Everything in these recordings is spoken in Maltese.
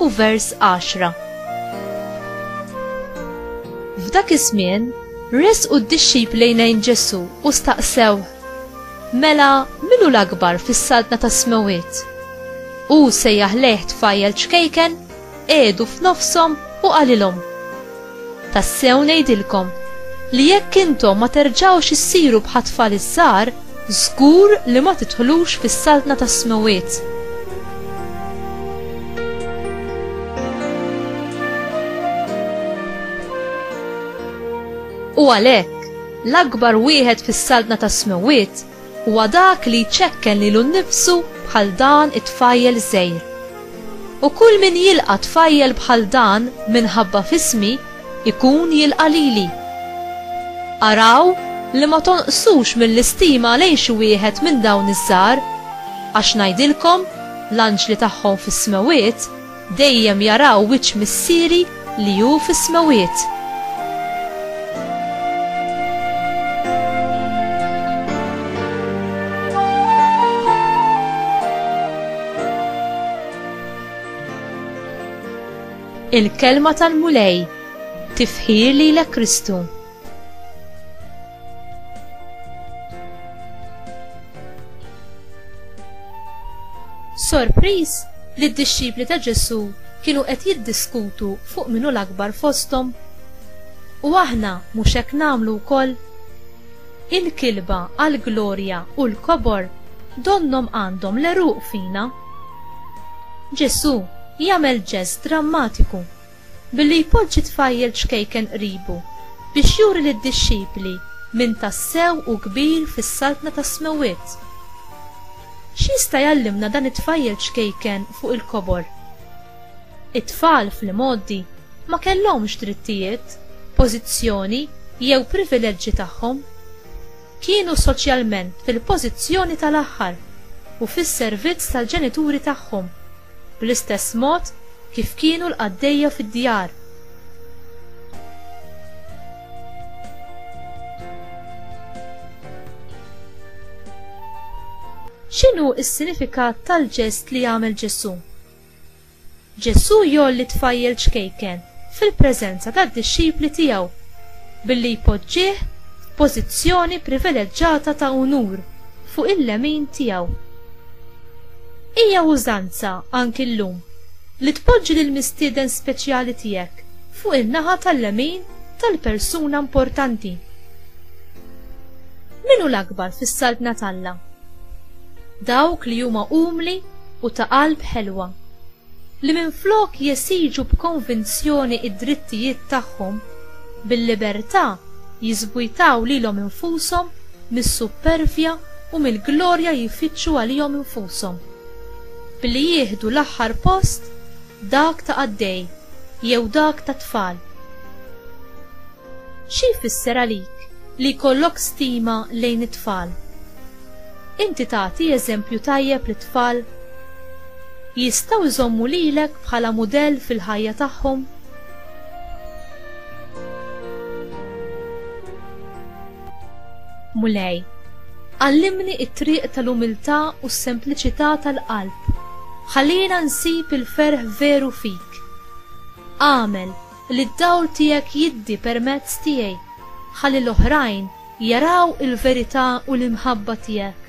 u vers 10. F'dak iż-żmien resqu d-dixxipli lejn Ġesu u staqsew, Mela min hu l-akbar fis-saltna tas-smewwiet? Hu sejjaħ lejh tfajjel ċkejken, qiegħdu f'nofshom u qalilhom, Tassew ngħidilkom li jekk intom ma terġgħux issiru bħat-tfal iż-żgħar, żgur li ma tidħlux fis-saltna tas-smewwiet. U għalhekk, l-akbar wieħed fis-saltna tas-smewwiet Huwa dak li jċekken lilu nnifsu bħal dan it-tfajjel żgħir. U kull min jilqa' tfajjel bħal dan minħabba f'ismi, ikun jilqa' lili. Araw li ma tonqsux mill-istima lejn xi wieħed minn dawn iż-żgħar, għax ngħidilkom, l-anġli tagħhom fis-smewwiet Dejjem jaraw wiċċ Missieri li hu fis-smewwiet. Il-Kelma tal-Mulej, tifħir lilek Kristu. Sorpriż li d-dixxipli ta' Ġesu kienu qed jiddiskutu fuq minu l-akbar fosthom. U aħna mhux hekk nagħmlu wkoll? Il-kilba għal glorja u l-kobor donnom għandhom l-eruq fina. Ġesu jagħmel ġest drammatiku Billi jpoġġi tfajjel ċkejken qribu biex juri lid-dixxipli min tassew hu kbir fis-Saltna tas-Smewwiet. X'jista' jgħallimna dan it-tfajjel ċkejken fuq il-kobor? It-tfal fl-imgħoddi ma kellhomx drittijiet, pożizzjoni jew privileġġi tagħhom. kienu soċjalment fil-pożizzjoni tal-aħħar u fis-servizz tal-ġenituri tagħhom, bl-istess mod kif kienu l-qaddejja fid-djar. X'inhu s-sinifikat tal-ġest li għamel Ġesù? Ġesù jgħolli tfajjel ċkejken fil-preżenza tad-dixxipli tiegħu billi jpoġġih f'pożizzjoni privileġġata ta' unur fuq il-lemin tiegħu. Hija użanza anki llum li tpoġġi lill-mistieden speċjali tiegħek fuq in-naħa tal-lemin tal-persuna importanti. Min hu l-akbar fis-Saltna t'Alla? Dawk li huma umli u ta' qalb ħelwa, li minflok jesiġu b'konvinzjoni d-drittijiet tagħhom, bil-libertà jiżvujtaw lilhom infushom mis-suppervja u mill-glorja jfittxu għalihom infushom, billi jieħdu l-aħħar post, dak ta' qaddej jew dak ta' tfal. Xi jfisser għalik li jkollok stima lejn it-tfal? Inti tagħti eżempju tajjeb lit-tfal? Jistgħu jżommu lilek bħala mudell fil-ħajja tagħhom? Mulej, għallimni t-triq tal-umiltà u s-sempliċità tal-qalb. Ħallina nsib il-ferħ veru fik. Agħmel li d-dawl tiegħek jiddi permezz tiegħi, ħalli l-oħrajn jaraw il-verità u l-imħabba tiegħek,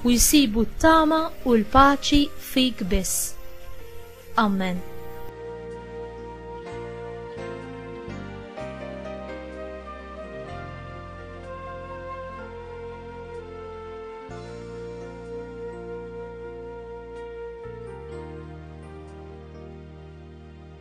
u jsibu t-tama u l-paċi fik biss. Ammen.